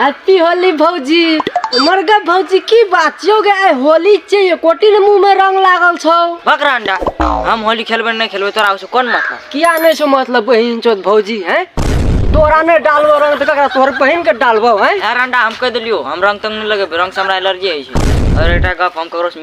happy Holi भौजी हमर गे भौजी की बात छियौ गे आइ होली छै एकोटी ने मुंह में रंग लागल छौ बकरा अंडा हम होली खेलबै नहि खेलबै तोरा ओहिसँ कोन मतलब किया नहि छौ मतलब बहिन चोद भौजी हैं तोरा नहि डालबो रंग तऽ ककरा तोहर बहिन के डालबो हैं यार अंडा हम कहि देलियौ हम रंग तंग नहि लगेबै रंगसँ हमरा एलर्जी होइ छै आओर एकटा गप हम ककरोसँ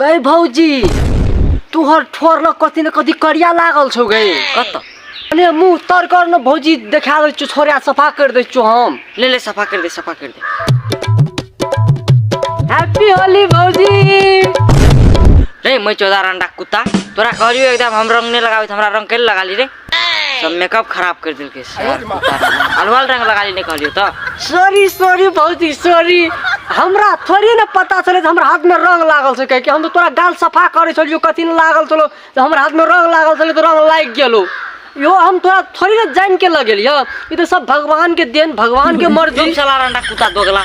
गई भौजी तुहर ठोर लग कथी ने कथी करिया लागल छौ गई कत अरे मुंह तर कर न भौजी देखा दे छोरिया सफा कर दे छौ हम ले ले सफा कर दे सफा कर दे हैप्पी होली भौजी रे मैं चौदार अंडा कुत्ता तोरा कहलियो एकदम हम रंग नहीं लगावे हमरा रंग के लगा ली रे सब मेकअप खराब कर दिल के सर अलवाल रंग लगा ली कहलियो तो सॉरी सॉरी भौजी सॉरी हमरा थोड़ी ना पता चले हमरा हाथ में रंग लागल से कह के हम तो तोरा गाल सफा करे छलियो कथी न लागल चलो तो हमरा हाथ में रंग लागल चले तो रंग लाग गेलो यो हम तोरा थोड़ी ना जान के लगेलियो ई तो सब भगवान के देन भगवान के मर्जी तुम चला रंडा कुत्ता दोगला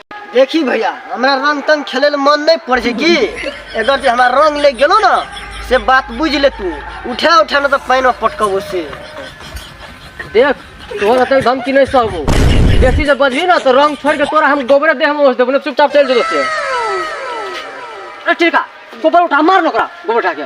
देखी भैया हमरा रंग तंग खेले ले मन नहीं पड़ छै की अगर जे हमरा रंग ले गेलो ना से बात बुझ ले तू उठा उठा ना तो पानी में पटकबो से देख तोहर अतल धमकी नहीं सहबो बेसी जब बजबी ना तो रंग छोड़ के तोरा हम गोबरे देह में ओस देबो ना चुपचाप चल जेतो से अरे ठीक है गोबर उठा मार ना ओकरा गोबर उठा के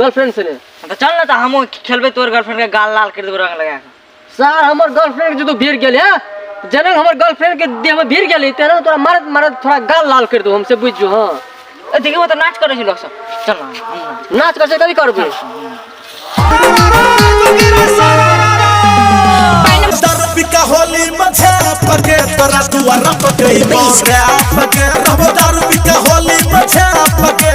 गर्लफ्रेंड से ने तो चल ना तो हम खेलबे तोर गर्लफ्रेंड के गाल लाल कर देबो रंग लगा के सर हमर गर्लफ्रेंड के जो तू भीड़ गेले हैं जनक हमर गर्लफ्रेंड के देह में भीड़ गेले ते ना तोरा मारत मारत थोड़ा गाल लाल कर दो हमसे बुझ जो हां ए, देखिए वो तो नाच करे छै लोग सब चल ना हम नाच नाच कर से कभी करबे दर्पिका होली मझे पके तोरा दुआरा पके बाबरा पके रहो दर्पिका होली मझे पके